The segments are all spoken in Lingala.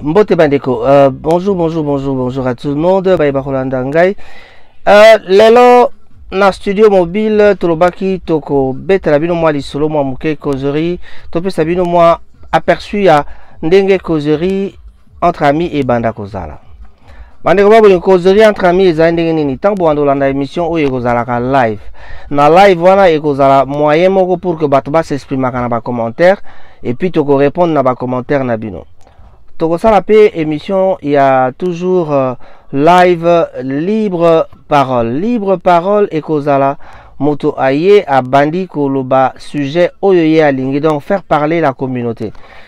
mbote bandeko uh, bonjour bonjour bonjour bonjour à tout le monde baye bakolanda ngai uh, lelo na studio mobile tolobaki tokobetela bino mwa lisolo mwa moke causerie topesa bino mwa aperçu ya ndenge causerie entre amis ebanda kozala bandeko babolingo kozoli entre amis ezali ndenge nini ntango bobanda kolanda émission oyo ekozalaka live na live wana ekozala moyen moko pour que bato basexprimaka na bacommentaire epuis tokorépondre na bacommentaire na bino tokosala mpe émission ya toujours euh, live libre parole libre parole ekozala moto aye abandi koloba sujet oyo ye alingi donc faire parler la communauté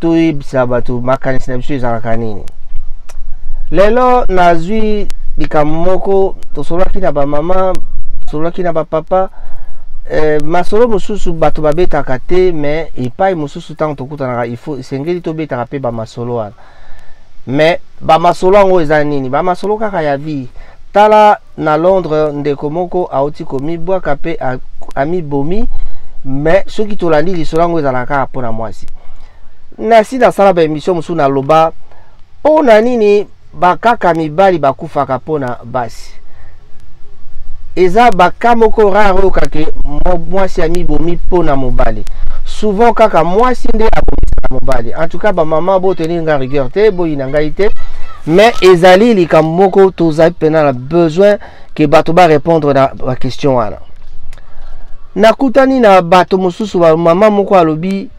toyebisa bato makanisi na biso ezalaka nini lelo nazwi likambo moko tosololaki na bamama tosololaki na bapapa eh, masolo mosusu bato babetaka te me epai mosusu ntango tokutanaka ifo esengeli tobetaka mpe bamasolo wana me bamasolo yango eza nini bamasolo kaka ya vie tala Na Londres, ndeko moko auti komibwaka mpe amibomi, me soki tolandi lisolo yango ezalaka kaka mpo na mwasi. Nasi nasala ba emission mosusu naloba mpo na nini bakaka mibali bakufaka mpo na basi eza baka moko rare oyo kake mwasi amibomi mpo na mobali souvent kaka mwasi nde abomisaka mobali en tout cas bamama boteli nga rigueur te boyina ngai te mais ezali likambo moko tozali mpena na besoin ke bato barépondre na baquestion wana nakutani na bato mosusu mama moko alobi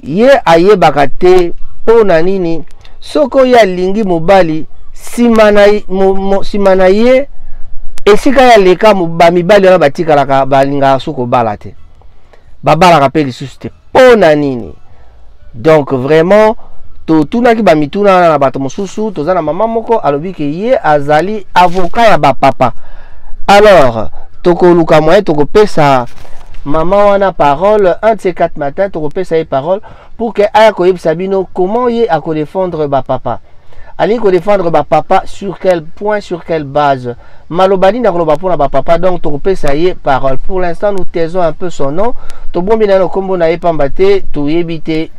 ye ayebaka te mpo na nini soki oyo alingi mobali nsima na, mo, mo, nsima na ye esika ya leka bamibali wana batikalaka balingaka so kobala te babalaka mpe lisusu te mpo na nini donc vraiment totunaki bamituna wana na bato mosusu toza na mama moko alobi ke ye azali avocat ya bapapa alors tokoluka moyen tokopesa mama wana parole un de ces quatre matin tokopesa ye parole pour que aya koyebisa bino comment ye akodefendre bapapa alingi kodefendre bapapa sur quel point sur quelle base maloba nini akoloba mpo na bapapa donc tokopesa ye parole pour l'instant nous taisons un peu son nom tobombi naye na nkombo na ye mpamba te toyebi te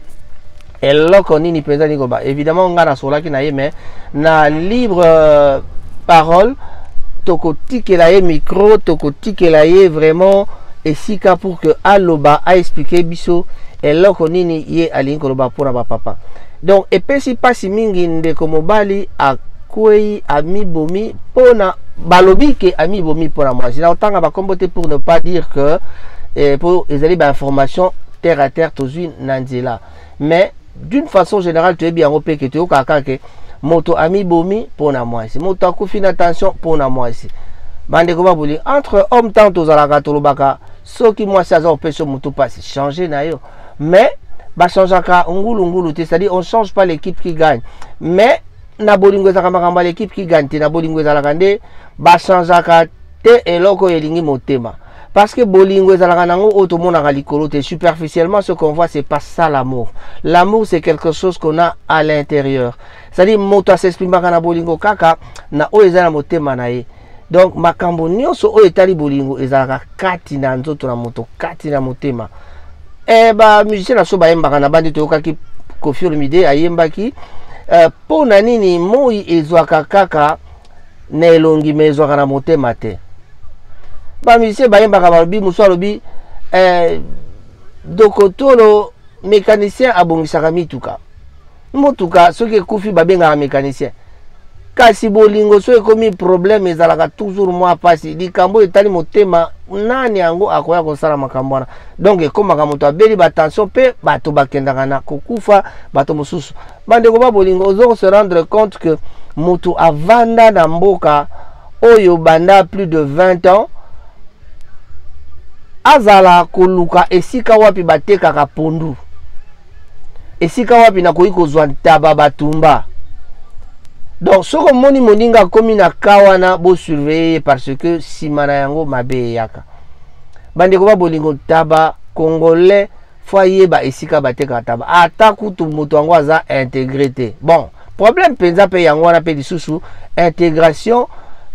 eloko nini mpenza nikoba évidemment ngai nasolaki na ye mais na libre euh, parole tokotikela ye micro tokotikela ye vraiment esika pour que aloba aexplike biso eloko nini ye alingi koloba mpona bapapa donc epesi mpasi mingi ndeko mobali akwei amibomi mpona balobi ke amibomi mpona mwasi na kotanga bakombo te pour ne pas dire que eh, po ezali bainformation terre à terre tozwi na nzela mais d'une façon générale toyebi yango mpe ke toyokaka kaka ke moto amibomi mpo na mwasi moto akufi na tension mpo na mwasi bandeko babuli entre homme temps tozalaka tolobaka soki mwasi aza kopesa motu mpasi change na yo mais bachangeaka ngulungulu te c'est-à-dire on change pas l'équipe qui gagne mais na bolingo ezalaka makambo ya l'équipe qui gagne te na bolingo ezalaka nde bachangeaka te eloko oyo elingi motema Parce que bolingo ezalaka nango oyo tomonaka likolo te. Superficiellement, ce qu'on voit, c'est pas ça l'amour. L'amour, c'est quelque chose qu'on a à l'intérieur. C'est-à-dire, moto asexprimaka na bolingo kaka na oyo eza na motema na ye. Donc, makambo nyonso oyo etali bolingo ezalaka kati na nzoto na moto, kati na motema. Eh, ba musicien na so bayembaka na bandi toyokaki Koffi Olomide ayembaki euh, mpo na nini moi ezwaka kaka na elongi me ezwaka na motema te bamisie bayembaka balobi mosusu alobi eh, dokotolo mécanicien abongisaka mituka motuka soki ekufi babengaka mécanicien kasi bolingo soki ekomi problème ezalaka toujours mwa mpasi likambo etali motema nani yango akoya kosala makambo wana donc ekomaka moto abeli batension mpe bato bakendaka na kokufa bato mosusu bandeko ba bolingo ozo se rendre compte que moto avanda na mboka oyo banda plus de 20 ans azala koluka esika wapi batekaka pondu esika wapi nakoki kozwa ntaba batumba donc soki omoni moninga akomi na ka wana bosurveille ye parce que nsima na yango mabe eyaka bandeko ba bolingo ntaba congolais fo ayeba esika batekaka taba ata kutu moto yango aza integre te bon problème mpenza mpe yango wana mpe lisusu integration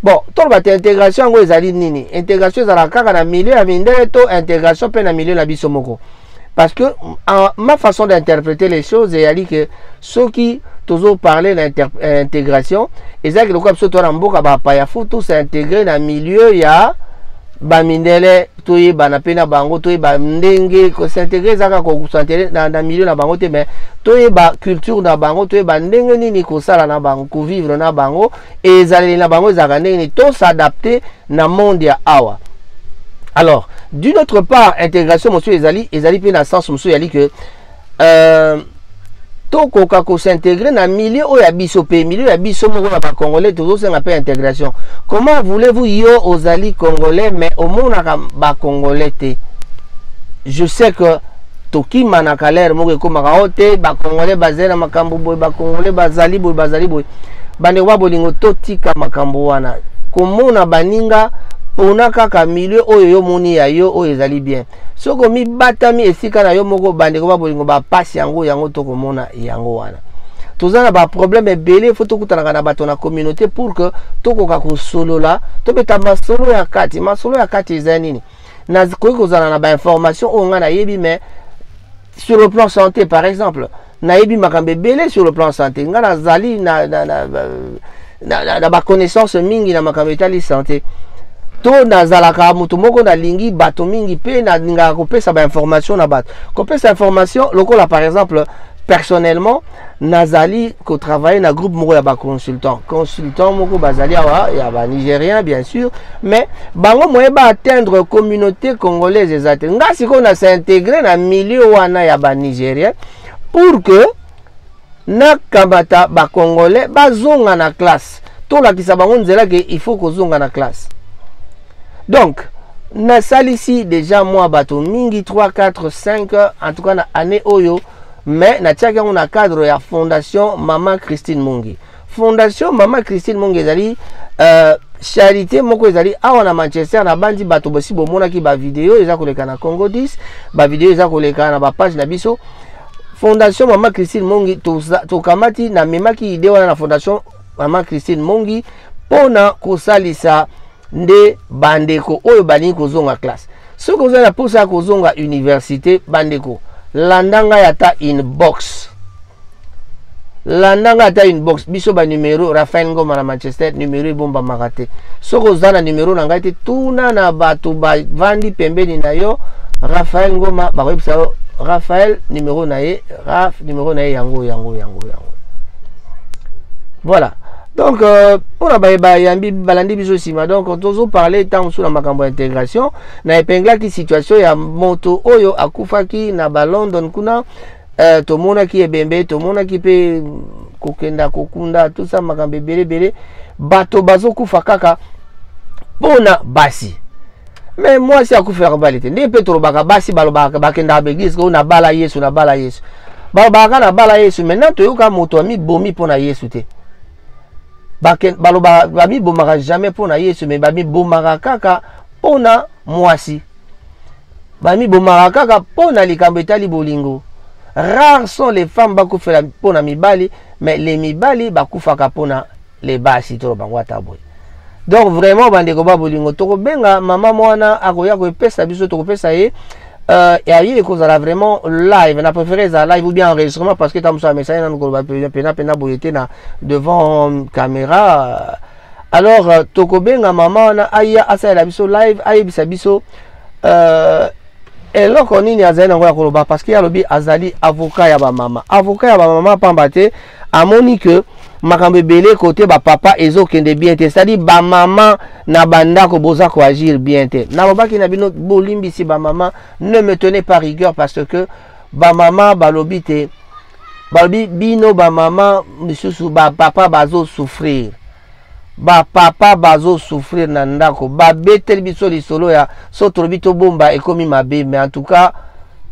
bon toloba te integration yango ezali nini integration ezalaka kaka na milieu ya mindele to integration mpe na milieu na biso moko parce que en, ma façon d'interpréter les choses eyali ke soki tozo parler na euh, intégration ezalaki lokola biso toa na mboka bapaya fo tous integre na milieu ya bamindele toyebana mpe na bango toyeba ndenge kosintegre ezaka kosantere na, na milieu na bango te mais toyeba culture na bango toyeba ndenge nini kosala na bango kovivre na bango ezaleli na bango ezalaka ndenge nini to s'adapte na monde ya awa alors d'une autre part intégration mosusu ezali ezali mpe na sens mosusu ezali que euh, tokoka kosintegre na milieu oyo ya biso mpe milieu ya biso moko na bacongolais tozosenga mpe integration comment voulez-vous yo ozali congolais mais omonaka bacongolais te je sais que tokimanaka lere moko ekomaka o te bacongolais bazali na makambo boye bacongolais bazali boye bazali boye bandeko ba bolingo totika makambo wana komona baninga pona kaka milieu oyo yo moni ya yo oyo ezali bien soki omibatami esika na yo moko bandeko ba bolingo bapasi yango yango tokomona yango wana toza na baproblème ebele fo tokutanaka na bato na communauté pour que tokoka kosolola tobeta masolo ya kati masolo ya kati eza nini nakoki kozala na bainformation oyo ngai nayebi mais sur le plan santé par exemple nayebi makambo ebele sur le plan santé ngai nazali na, na, na, na, na, na, na baconnaissance mingi na makambo etali santé to nazalaka moto moko nalingi bato mingi mpe nalingaka kopesa bainformation na bato kopesa information lokola par exemple personnellement nazali kotravaille na groupe moko ya baconsultant consultant moko bazali awa ya banigérien bien sûr mais bango moye baatteindre communauté congolaise eza te ngai sikoyo na s'integre na milieu wana ya banigérien pour que nakamata bacongolais bazonga na classe tolakisa bango nzela ke il faut kozonga na classe donc nasalisi deja mwa bato mingi 3 4 5 en tout cas na année oyo mais natiaki yango na cadre ya fondation mama christine mungi fondation mama christine mungi ezali uh, charité moko ezali awa na manchester nabanzi bato bosi bomonaki bavideo eza koleka na congo 10 bavideo eza koleka na bapage na biso fondation mama christine mongi tokamati namemaki ide wana na fondation mama christine mongi mpo na kosalisa nde bandeko oyo balingi kozonga classe soki oza na mposa ya kozonga université bandeko landa ngai ata inbox landa ngai ata inbox biso banumero rafael ngoma na manchester numero ebombamaka te soki oza na numero na ngai te tuna na bato bavandi pembeni na yo rafael ngoma bakoyebisa yo rafael numero na ye raf numero na ye yango yango yango yango voilà donc euh, mpo na baye bayambi balandi biso nsima donc tozoparle ntango mosusu na makambo ya intégration na epenglaki situation ya moto oyo akufaki na balondon kuna euh, tomonaki ebembe tomonaki mpe kokenda kokunda tosa makambo ebele ebele bato bazokufa kaka mpo na basi me mwasi akufela bali te ndenge mpe tolobaka basi balobaka bakendaka baeglise oyo nabala yesu nabala yesu balobaka kaka nabala yesu maintenant toyoka moto amibomi mpo na yesu te balobaka bamibomaka jamais mpo na yesu me bamibomaka kaka mpo na mwasi bamibomaka kaka mpo na likambo etali bolingo rares sont les femmes bakufela mpo na mibali mais les mibali bakufaka mpo na les basi tolo bango ata boye donc vraiment bandeko ba bolingo tokobenga mama mwana akoya koepesa biso tokopesa ye euh, aye ekozala vraiment live na préféré ezala live ou bien enregistrement parce que ta mosusu amesani nanu koloba pena pena boye te na devant caméra alors euh, tokobenga mama wana aya asalela biso live ayebisa biso euh, eloko nini azali nango ya koloba parce que alobi azali avocat ya bamama avocat ya bamama pamba te amoni que makambo ebele kote bapapa ezokende bien te cetadi bamama na bandako boza koagir bien te nalobaki na bino bolimbisi bamama ne me tenez pas rigueur parce que bamama balobi te balobi bino bamama misusu bapapa bazosouffrir ba papa bazo souffrir na ndako babeteli biso lisolo ya so tolobi tobomba ekomi mabe mais en tout cas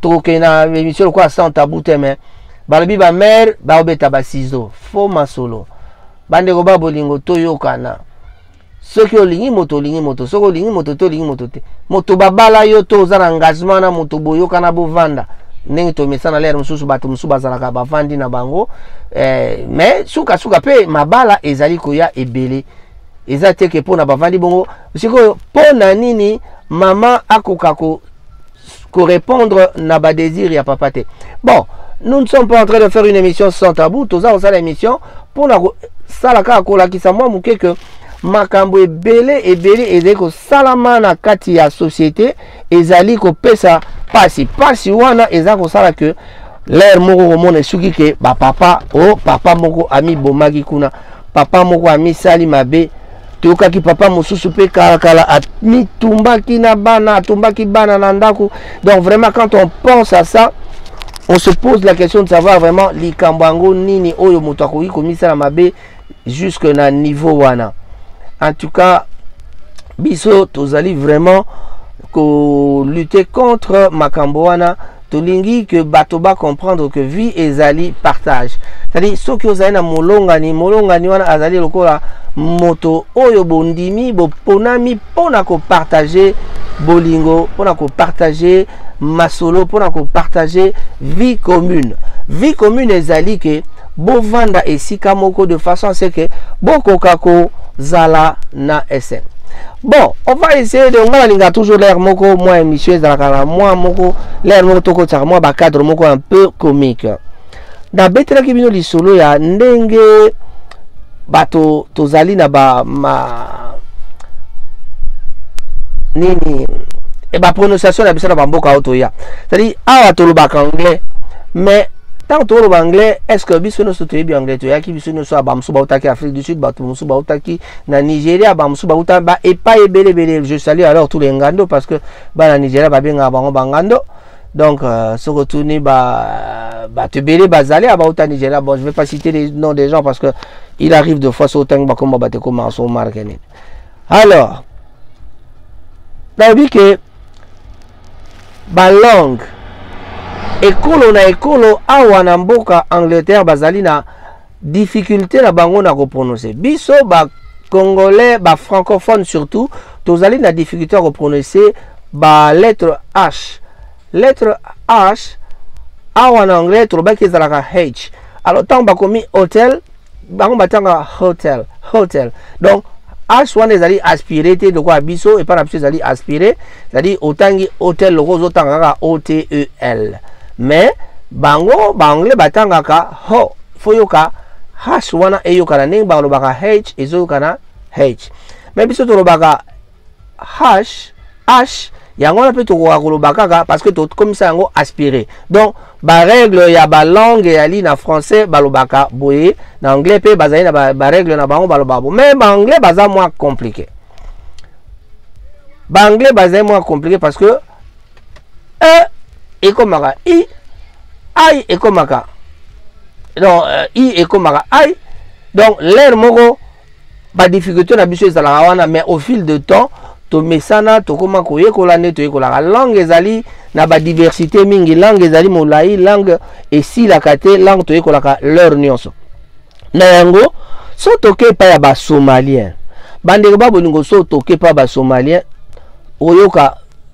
tokokende na émission lokola sans tabou te mais balobi bamare baobeta basizo fo masolo bandeko ba bolingo toyokana soki olingi moto olingi moto soki olingi moto te olingi moto te moto babala yo to oza na engagement na moto boyokana bovanda ndenge tomesana lere mosusu bato mosusu bazalaka bavandi na bango eh, mais suka suka pe mabala ezali koya ebele eza te ke pona bavandi bongo sikoyo pona nini mama akoka ko correspondre na ba désir ya papa te bon nous ne sommes pas en train de faire une émission sans tabou toza kosala émission pona kosala kaka kolakisa mwa moke ke makambo ebele ebele ezali kosalama na kati ya société ezali kopesa pasi pasi wana eza kosala ke lere moko komona esuki ke bapapa o oh, papa moko amibomaki kuna papa moko amisali mabe toyokaki papa mosusu mpe kalakala amitumbaki na bana atumbaki bana na ndako donc vraiment quand on pense à ça on se pose la question de savoir vraiment likambo yango nini oyo moto akoki komisala mabe jusque na niveau wana en tout cas biso tozali vraiment lutter contre makambo wana tolingi que bato comprendre que vie ezali partage cetadi soki ozali na molongani molongani wana azali lokola moto oyo bondimi boponami mpo na kopartage bolingo mpo na kopartage masolo mpo na kopartage vie commune vie commune ezali ke bovanda esika moko de façon ce que bokoka kozala na esengo bon on va essayer de ngai nalinga toujours l'air moko mwa émission ezalaka na mwa moko l'air moko tokotisaka mwa bacadre moko un peu comique nabetelaki bino lisolo ya ndenge bato tozali na ba ma nini e ba prononciation na biso na bamboka oyo toya cetadi awa tolobaka anglais mais ntango tokoloba anglais est ce que biso nyonso toyebi anglais toyaki biso nyonso ya bamosusu bautaki afrique du sud bato mosusu bautaki na nigeria bamosusu bauta ba epai ebele ebele je salut alors tous les ngando parce que bana nigeria babengaka bango bangando Donc, euh, ce retourné, bah, bah, tu bélé, bah, zalé, bah, autant Nigeria. Bon, je vais pas citer les noms des gens parce que il arrive de fois, autant que bah, comme bah, comme en son marque. Alors, bah, oui que, bah, langue, ekolo na ekolo awa na mboka angleterre bazali na difficulté na bango na ko prononcer biso ba congolais ba francophones surtout tozali na difficulté ya ko prononcer ba lettre h lettre h awa na anglais tolobaki ezalaka h alors ntango bakomi hotel bango batanga hotel hotel donc h wana ezali aspire te lokola biso epai na biso ezali aspire ezali otangi hotel lokola ozotanga kaka otel mais bango baanglais batangaka ho fo yoka hash wana eyokana ndenge balobaka h ezoyokana h me biso tolobaka hash hash yango wana mpe tokoka koloba kaka parce que tokomisa yango aspiré donc barègle ya balangue eyali na français balobaka boye na anglais mpe bazali na barègle na bango balobaka boye mais baanglais baza mwa compliqué baanglais bazali mwa compliqué parce que e ekomaka i ai ekomaka donc euh, i ekomaka ai donc l'air moko badifficulté na biso ezalaka wana mais au fil de temps tomesana tokóma koyekola nde toyekolaka langue ezali na badiversité mingi langue ezali molai langue esilaka te langue toyekolaka l'heure nyonso na yango so toke epai ya basomalien bandeko babolingo so toke epai ya basomalien oyoka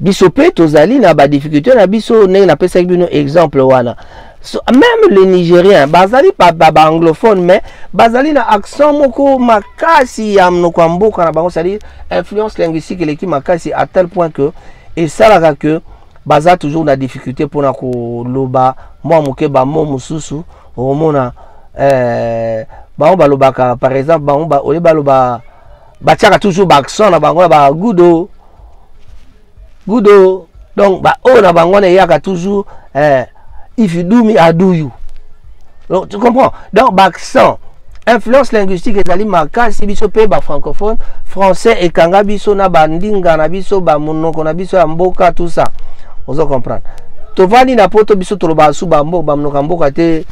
biso mpe tozali na badifficulté na biso ndenge napesaki bino exemple wana so, même le nigérien bazali baanglophone mais bazali na accent moko makasi ya monoko ya mboka na bango cestadire influence linguistique eleki makasi à tel point que esalaka que baza toujours na difficulté mpona koloba mwa moke bamo mosusu okomona eh, bango balobaka par exemple bango ba, olie baloba batiaka toujours baaccent na bango ya bagudo gudo donc baoyo na bango wana eyaka toujours eh, if you do me i do you donc tu comprends donc baaccent influence linguistique ezali makasi biso mpe bafrancophone français ekanga biso na bandinga na biso bamonoko na biso ya mboka tout ça ozo comprendre tovandi na poto biso tolobaka su bamonoko ya mboka te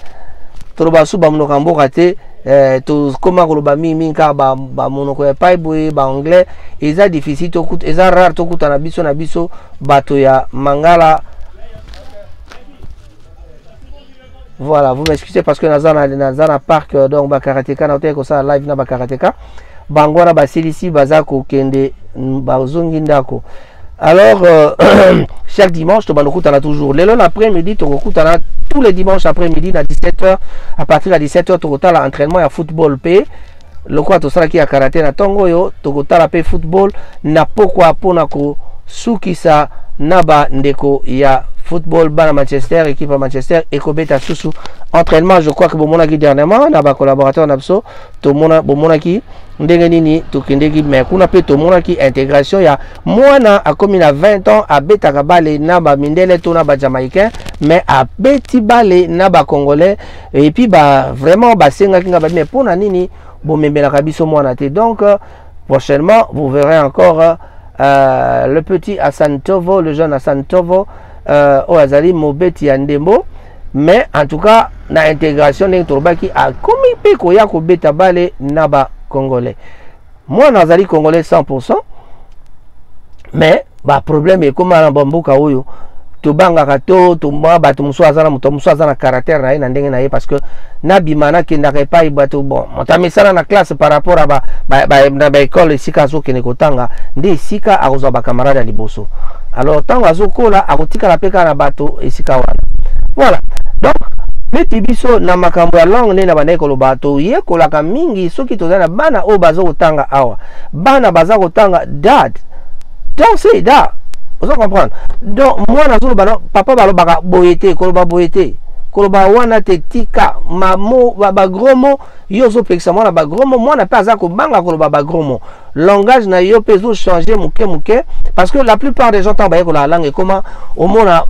tolobaka su bamonoko ya mboka te eh, tokoma koloba mingi mingi kaka bamonoko ba ya epai boye baanglais eza difficile tokuta eza rare tokutana biso na biso bato ya mangala voilà vous m'excusez parce que naza na, naza na parc euh, donc bakarateka na oteki kosala live na bakarateka bango wana basilisi baza kokende bazongi ndako alors euh, chaque dimanche tobanda kokutana toujours lelo na après midi tokokutana tous les dimanches après midi na 17 heures à partir ya 17 heures tokotala entraînement ya football mpe lokola tosalaki ya karate na ntongo oyo tokotala mpe football na pokwa mpo na kosukisa na bandeko ya football bana manchester équipe ya manchester ekobeta susu entraînement je crois que bomonaki dernièrement na bacollaborateur na biso tomona bomonaki ndenge nini tokendeki me kuna mpe tomonaki integration ya mwana akomi na 20 ans abetaka bale na bamindele to na bajamaïcain me abeti bale na bacongolais epuis ba, vraiment basengaki ngai babi me mpo na nini bomemelaka biso mwana te donc Prochainement, vous verrez encore euh, euh le petit Hassan Tovo, le jeune Hassan Tovo, euh, oyo azali mobeti ya ndembo mais en tout cas na intégration ndenge tolobaki akomi mpe koya kobeta bale na bacongolais mwana azali congolais 100 mais ba problème ekoma na bamboka oyo tobangaka to tomwa bato mosusu aza na moto mosusu aza na caractère na ye na ndenge na ye parce que nabima nakendaka epai bato bon moto amesana na classe par rapport ba, ba, ba, na baekole esika azokende kotanga nde esika akozwa bacamarade ya liboso alors ntango azokola akotikala mpe kaka na bato esika wana voilà donc neti biso na makambo ya langue nde na bandaki koloba toyekolaka mingi soki tozali na bana oyo bazokotanga awa bana baza kotanga dad donc se da oza comprendre donc mwana azoloba na papa balobaka boye te koloba boye te koloba wana te tika mamo bagros mo yo ozopekisa mwana bagros mo mwana mpe aza kobanga koloba bagros mo langage na yo mpe ezochange moke moke parce que la plupart des gens ntango bayekolaka langue ekoma omona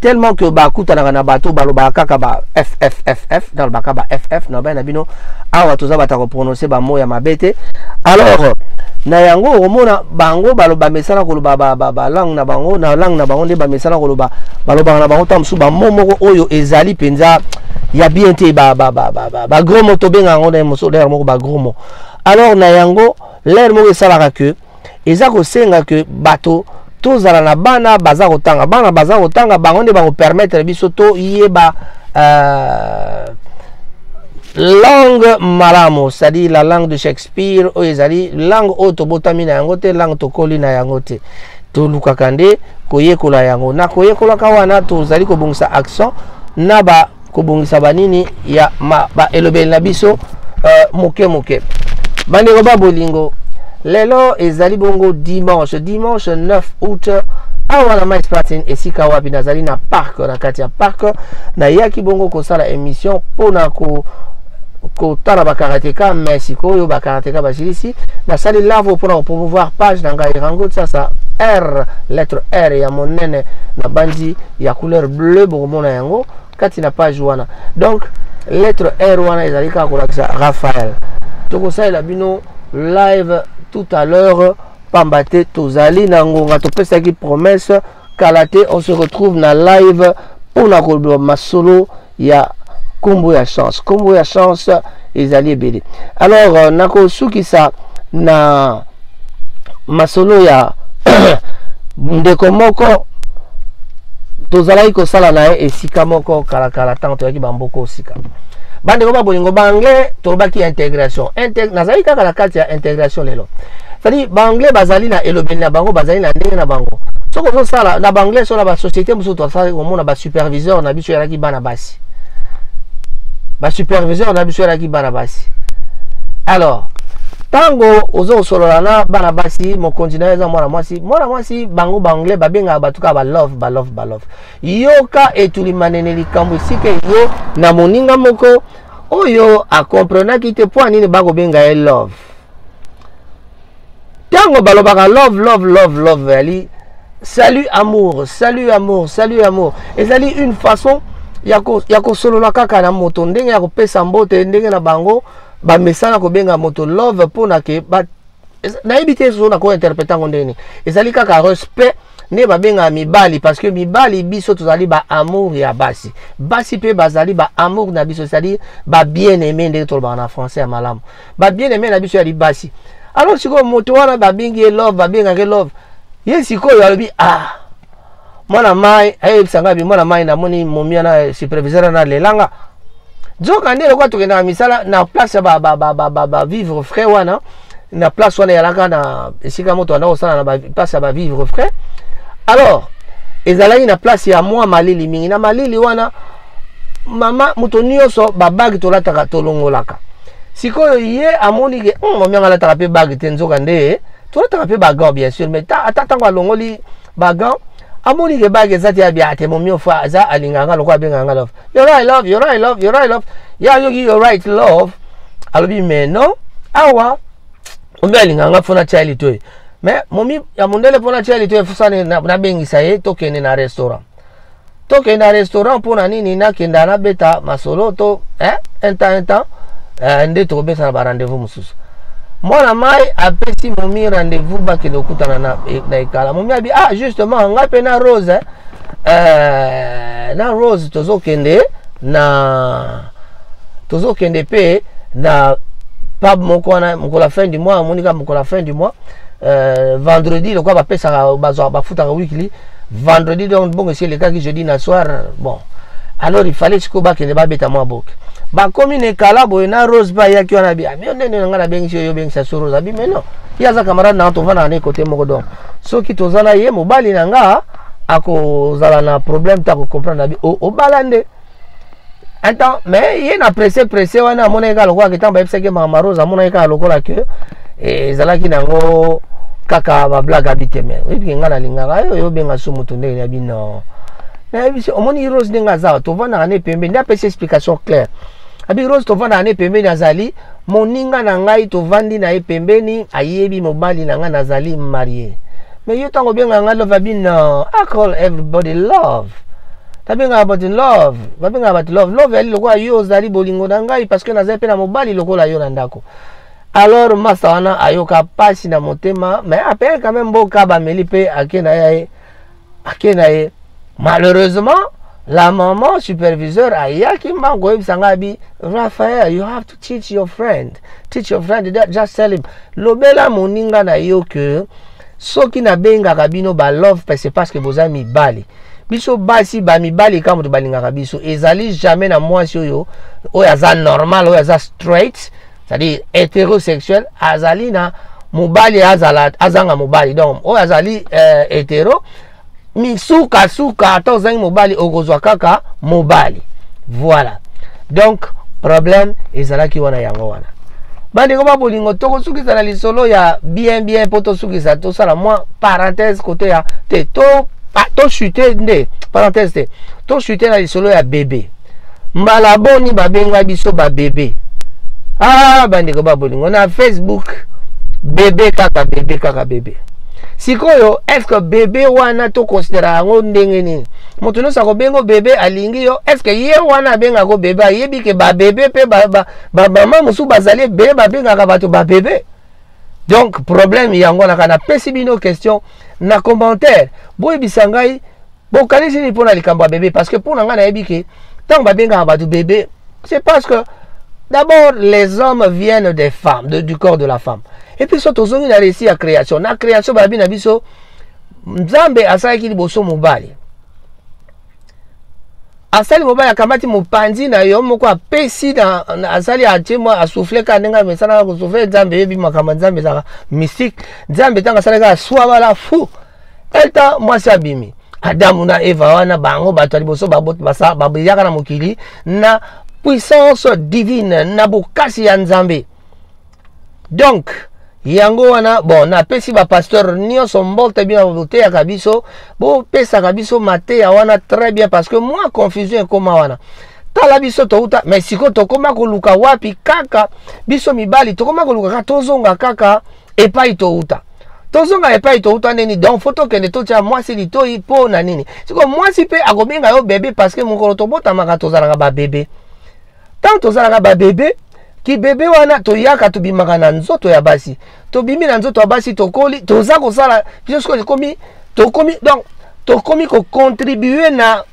tellement que bakutanaka na bato balobaka kaka ba ffff nalobaka ba ff na bai na bino awa toza bato ya koprononce bamo ya mabe te alors na yango okomona bango bamesana koloba balangue na bango na langue na bango nde bamesana koloba balobaka na bango ntango mosusu bamo moko oyo ezali mpenza ya bien te bagromo tobenga yango na mosolo moko bagromo alors na yango lere moko esalaka que eza kosenga ke bato tozala na bana baza kotanga bana baza kotanga bango nde bakopermettre biso toyeba euh, langue malamu c'est-à-dire la langue de shakespeare oyo ezali langue oyo tobotami na yango te langue tokoli na yango te tolukaka nde koyekola yango na koyekolaka wana tozali kobongisa accent na ba kobongisa banini ya ma, ba elobeli na biso uh, moke moke bandeko ba bolingo lelo ezali bongo dimanche dimanche 9 août awa na mais patin esika wapi nazali na parc na kati ya parc nayaki bongo kosala émission mpo na ko kotala bakarateka me sikoyo bakarateka basilisi nasali lavo mpona kopromouvoir page na ngai rango sasa r lettre r ya monene na banzi ya couleur bleu bokomona yango kati na page wana donc lettre r wana ezali kaka kolakisa raphael tokosalela bino live tout à l'heure pamba te tozali na ngonga topesaki promesse kala te on se retrouve na live mpo na koloba masolo ya nkombo ya chance nkombo ya chance ezali ebele alors euh, nakosukisa na masolo ya ndeko moko tozalaki kosala na ye esika moko kalakala ntango toyaki bamboko osika bandeko ba bolingo baanglais tolobaki intégration Integ nazali kaka na kati ya intégration lelo cetadi baanglais bazali na elobeli na bango bazali na ndenge na bango soki ozosala na baanglais so na basociété mosusu tosali komona superviseur na biso ezalaki bana basi basuperviseur na biso ezalaki bana basi alors ntango oza kosolola na bana basi mokonzi na yo eza mwana mwasi mwana mwasi bango baanglais babengaka bato kaka balove balove balove yoka etulimanene likambo esika yo na moninga moko oyo akomprenaki te mpo ya nini bakobenga ye love ntango balobaka love love love love ezali salut amour salut amour salut amour ezali une façon ya kosolola kaka na moto ndenge ya kopesa mbote ndenge na bango bamesana kobenga moto love mpo na ke nayebi te soki nakointerprete yango ndenge nini ezali kaka respect nde babengaka mibali parce que mibali biso tozali baamour ya basi basi mpe bazali baamour na biso ezali babien aime ndenge tolobaka na français ya malamu ba bien aime na biso ya libasi alors sikoyo moto wana babengi ye love babengaka ye love ye sikoyo alobi ah mwana mai ayebisa ngai bi mwana mai namoni momia na superviseur na lelanga nzoka nde lokola tokendaka misala na place ya bavivre frais wana na place wana eyalaka na esika moto anda kosala na place ya bavivre frais alors ezalaki na place ya mwa malili mingi na malili wana mama moto nyonso babage tolataka tolongolaka sikoyo ye amoni ke hmm, momi yango alataka mpe bage te nzoka nde tolataka mpe bagan bien sûr mais ata ntango alongoli bagan amoni ke bage eza te ya bia te momi ofa aza alingaka nga lokola abengaka nga love yo right love yo right love yo right love ye ayoki yo right love alobi mais non awa omi alingaka nga fona tia ye litoyi mais momi ya mondele mpona tia ye litoyi fosani nabengisa ye tokende na restaurant tokenda restaurant mpo na nini nakenda nabeta masolo to eh, un temps un temps eh, nde tokobesana ba rendez-vous mosusu mwana mai apesi momi rendez-vous bakende kokutana na, eh, na ekala momi abi ah justement ngai mpe na rose eh, eh, na rose tozokende na tozokende mpe na pub moko wana mokolo ya fin du mois amonika mokolo ya fin du mois euh, vendredi lokola bapesaka bazwaka bafutaka weekly vendredi donc bongo esi elekaki jeudi na soir bon alors il fallait sikoyo bakende babeta mwa boke bakomi na ekala boye na rose ba ayaki wana bi ami ah, ndenge na ngai nabengisi yo yobengisa so rose abi mais non ye aza camarade nanga tovandaka na ye kote moko donc soki toza na ye mobali na nga akozala na problème te akocomprendre abi obala nde un temps mais ye na presse presse wana amonaki kaka lokola ke ntango bayebisaki mama rose amonaki kaka lokola ke eh, ezalaki na yango kaka bablage abi te me oyebi ke ngai nalingaka yo yo obenga su moto ndenge ya bino nayebisi omoni rose ndenge aza tovandaka ne pembeni nde apesi explication claire abi rose tovandaka ne pembeni azali moninga na ngai tovandi na ye pembeni ayebi mobali na ngai nazali marie mais yo ntango obenga ngai love abi no i call everybody love nabengaka bato love babengaka bato love love yali lokola yo ozali bolingo na ngai parce que nazali mpe na mobali lokola yo na ndako alors masa wana ayoka mpasi na motema mais apeye quand même mboka bameli mpe ake na ye ake na ye malheureusement la maman superviseur ayaki mbango koyebisa ngai bi raphael you have to teach your friend teach your friend just tell him lobela moninga na yo ke soki nabengaka bino balove pese parce que boza mibali biso basi bamibali kaka moto balingaka biso ezali jamais na mwasi oyo oyo aza normal oyo aza straight c'est-à-dire hétérosexuel azali na mobali azala azanga mobali donc oyo azali euh, hétéro misukasuka ata ozangi mobali okozwa kaka mobali voilà donc problème ezalaki wana yango wana bandeko ba bolingo tokosukisa na lisolo ya bien bien mpo tosukisa tosala mwa parenthèse kote ya te tochute to nde parenthèse te tochute na lisolo ya bebe mbala boni babenga biso babebe ah bandeko babolingo na facebook bebe kaka bebe kaka bebe sikoyo eske bebe wana tokonsidera yango ndenge nini moto nyonso akobenga bebe alingi yo eske ye wana abengako bebe ayebi ke babebe mpe bamama mosusu bazali ebele babengaka bato babebe donc problème yango wana kaka napesi bino question na commentaire boyebisa ngai bokanisi nini mpo na likambo ya bebe parce que mpo na ngai nayebi ke ntango babengaka bato bebe c'est parce que d'abord les hommes viennent des femmes de, du corps de la femme et puis so tozongi na récit ya création na création babi na biso nzambe asalaki liboso mobali asali mobali akamati mopanzi na yo moko apesi asali atie mwa asufle kaka ndenge amesanaka kosufle nzambe eyebi makambo nzambe ezalaka mystique nzambe ntango asalaki aswa bala fou eta mwasi abimi adamu na eva wana bango bato ya liboso babiyaka na mokili na puissance divine na bokasi ya nzambe donc yango wana bon napesi bapasteur nyonso mbote bino boteyaka biso bopesaka biso mateya wana très bien parce que mwa confusion ekoma wana tala biso touta mais sikoyo tokoma koluka wapi kaka biso mibali tokoma koluka kaka tozonga kaka epai touta tozonga epai touta nini donc fo tokende totya mwasi litoi mpo na nini sikoyo mwasi mpe akobenga yo bebe parce que mokolo tobotamaka tozalaka babebe ntango tozalaka babebe kibebe wana toyaka tobimaka na nzoto ya basi tobimi na nzoto ya basi tokoli toza kosala biso sikoyo ekomi tokomi donc tokomi kocontribue na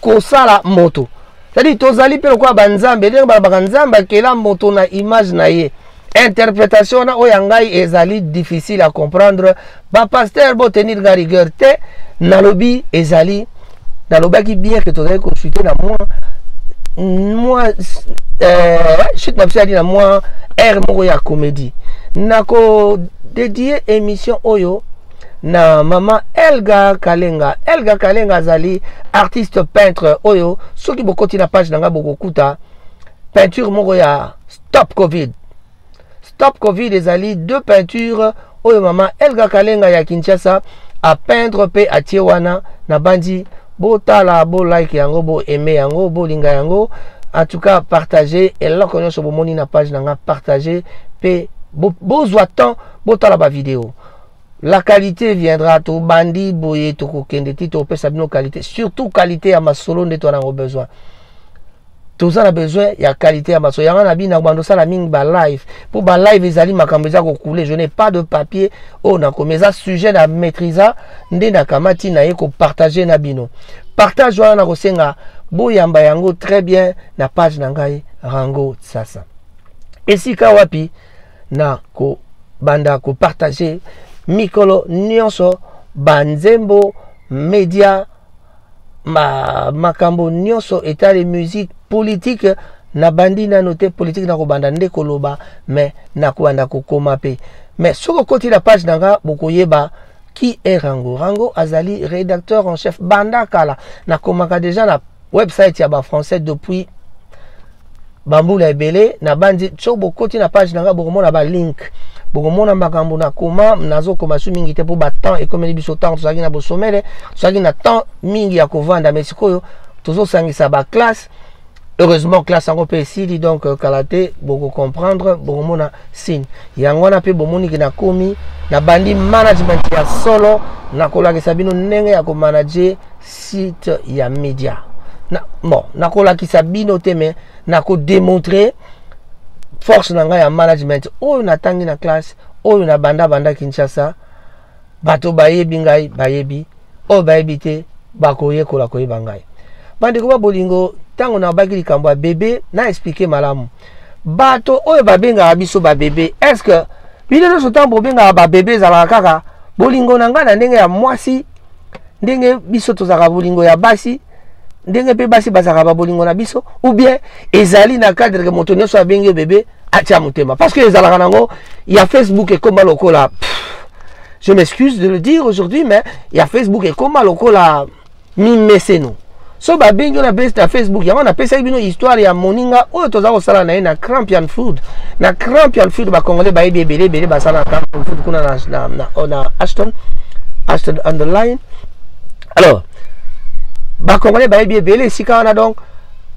kosala moto cetadire tozali mpe lokola banzambe ndenge balobaka nzambe akela moto na image na ye interpretation wana oyo ya ngai ezali difficile à comprendre bapasteur botenir nga rigueur te nalobi ezali nalobaki bien ke tozali consulte na mwa mwa euh, chute na biso yali na mwa aire moko ya comédie nakodedie émission oyo na mama elga kalenga elga kalenga azali artiste peintre oyo soki bokoti na page na ngai bokokuta peinture moko ya Stop Covid. Stop Covid ezali deux peintures oyo mama Elga Kalenga ya Kinshasa a peindre pe atie wana na bandi botala bo like yango bo aime yango bolinga yango en tout cas partager eloko nyonso bomoni na page na nga partager pe bozwa bo temps botala ba video la qualité viendra tobandi boye tokokende ti topesa bino qualité surtout qualité ya masolo nde twana yango besoin toza na besoin ya qualité ya maso yango na bina kobanda osala mingi ba live mpo ba live ezali makambo eza kokule je n'ai pas de papier oyo nakomi eza sujet na maîtrisa nde nakamati na ye kopartage na bino partage wana nakosenga boyamba yango très bien na page na ngai rango sasa esika wapi na kobanda kopartage mikolo nyonso banzembo media ma makambo nyonso etali musique politique nabandi nano te politike nakobanda nde koloba me nakobanda kokoma mpe me soki okoti na page na nga bokoyeba qui est rango rango azali rédacteur en chef banda kala nakomaka déjà na website ya bafrançais depuis bambula ebele nabanzi so bokoti na page na ngai bokomona balink bokomona makambo na koma nazokoma su mingi te mpo batemps ekomeli biso ntango tozalaki na bosomele tozalaki na temps mingi ya kovanda mai sikoyo tozosangisa baklasse heureusement classe yango mpe esili donc euh, kala te bokocomprendre bokomona signe yango wana mpe bomoni ke nakomi nabandi management ya solo nakolakisa bino ndenge ya komanage site ya media na, bon nakolakisa bino te me nakodemontre force na ngai ya management oyo natangi na classe oyo na banda banda kinshasa bato bayebi ngai bayebi oyo bayebi te bakoyekola koyeba ngai bandeko ba bolingo ntango nabaki likambo ya bebe na explike malamu bato oyo babengaka biso babebe est ce que bino nyonso ntango bobengaka babebe ezalaka kaka bolingo na ngai na ndenge ya mwasi ndenge biso tozalaka bolingo ya basi ndenge mpe basi bazalaka babolingo na biso ou bien ezali na cadre ke moto nyonso abengi bebe atia motema parce que ezalaka nango ya facebook ekoma lokola je m'excuse de le dire aujourd'hui mais ya facebook ekoma lokola mimeseno so babengi na base na facebook yango napesaki bino histoire ya moninga oyo toza kosala na ye na crampian food na crampian food bacongolais bayebi ebele ebele basala na crampian food kuna na, na, na, oh, na ashton ashton on the line alors bacongolais bayebi ebele esika wana donc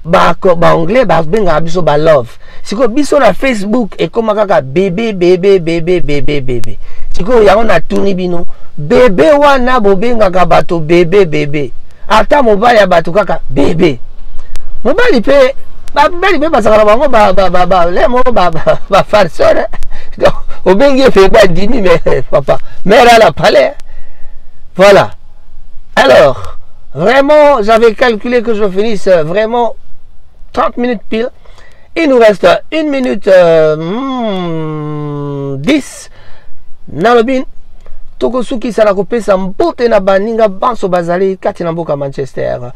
baanglais babengaka biso balove sikoyo biso na facebook ekoma kaka bebe bebe bebe bebe bebe sikoyo yango natuni bino bebe wana bobengaka bato bebe bebe ata mobali ya bato kaka bebe mobali mpe babali mpe bazalaka na bango bale moko bafarseur donc obengi ye mpe bandimi me papa mare ala palais voilà alors vraiment j'avais calculé que je finisse vraiment 30 minutes pile Il nous reste une minute euh, hmm, dix. Nalobin, tokosukisa na kopesa mbote na baninga banso bazali kati na mboka manchester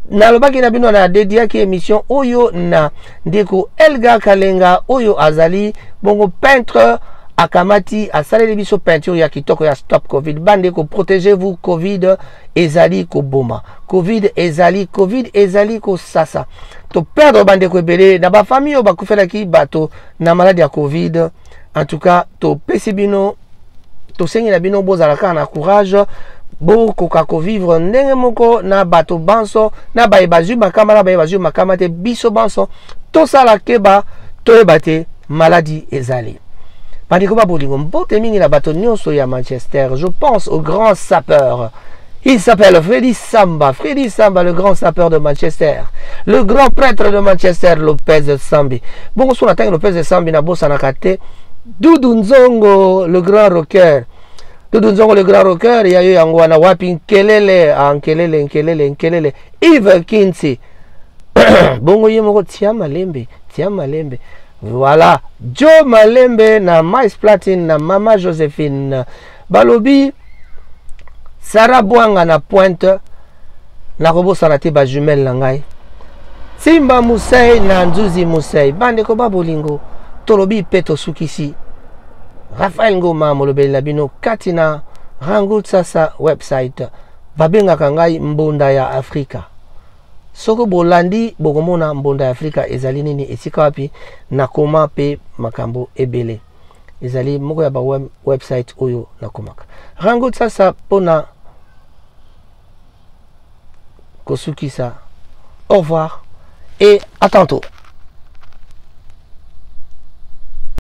nalobaki na bino na dediaki émission oyo na ndeko elga kalenga oyo azali bongo peintre akamati asaleli biso peinture ya kitoko ya stop covid bandeko protégez vous covid ezali koboma covid ezali covid ezali kosasa toperdre bandeko ebele na bafamille oyo bakufelaki bato na maladi ya covid en tout cas topesi bino tosengi na bino bozala kaka na courage bokoka kovivre ndenge moko na bato banso na baye bazwi makama na baye bazwi makama te biso banso tosala keba toyeba te Maladie ezali. Bandeko ba bolingo mbote mingi na bato nyonso ya Manchester. Je pense au grand sapeur. Il s'appelle Freddy Samba, Freddy Samba, le grand sapeur de Manchester, le grand prêtre de Manchester, Lopez Sambi. Bongo suna tangi Lopez Sambi na bosa na kate, Doudou Nzongo, le grand rocker. Doudou Nzongo, le grand rocker, ya yo yango wana wapi nkelele, ah, nkelele, nkelele, nkelele, Eve Kinti. Bongo ye moko tia malembe. tia malembe voilà joe malembe na mice platine na mama josephine balobi sara bwanga na pointe nakobosana te bajumele na ngai simba musei na nzuzi musei bandeko ba bolingo tolobi mpe tosukisi rafael ngoma molobeli na bino kati na rangout sasa website babengaka ngai mbunda ya afrika Soki bolandi bokomona mbonda ya Afrika ezali nini, esika wapi nakoma pe makambo ebele. Ezali moko ya ba web, website oyo nakomaka. Rango sasa pona kosukisa. Au revoir et à tantôt.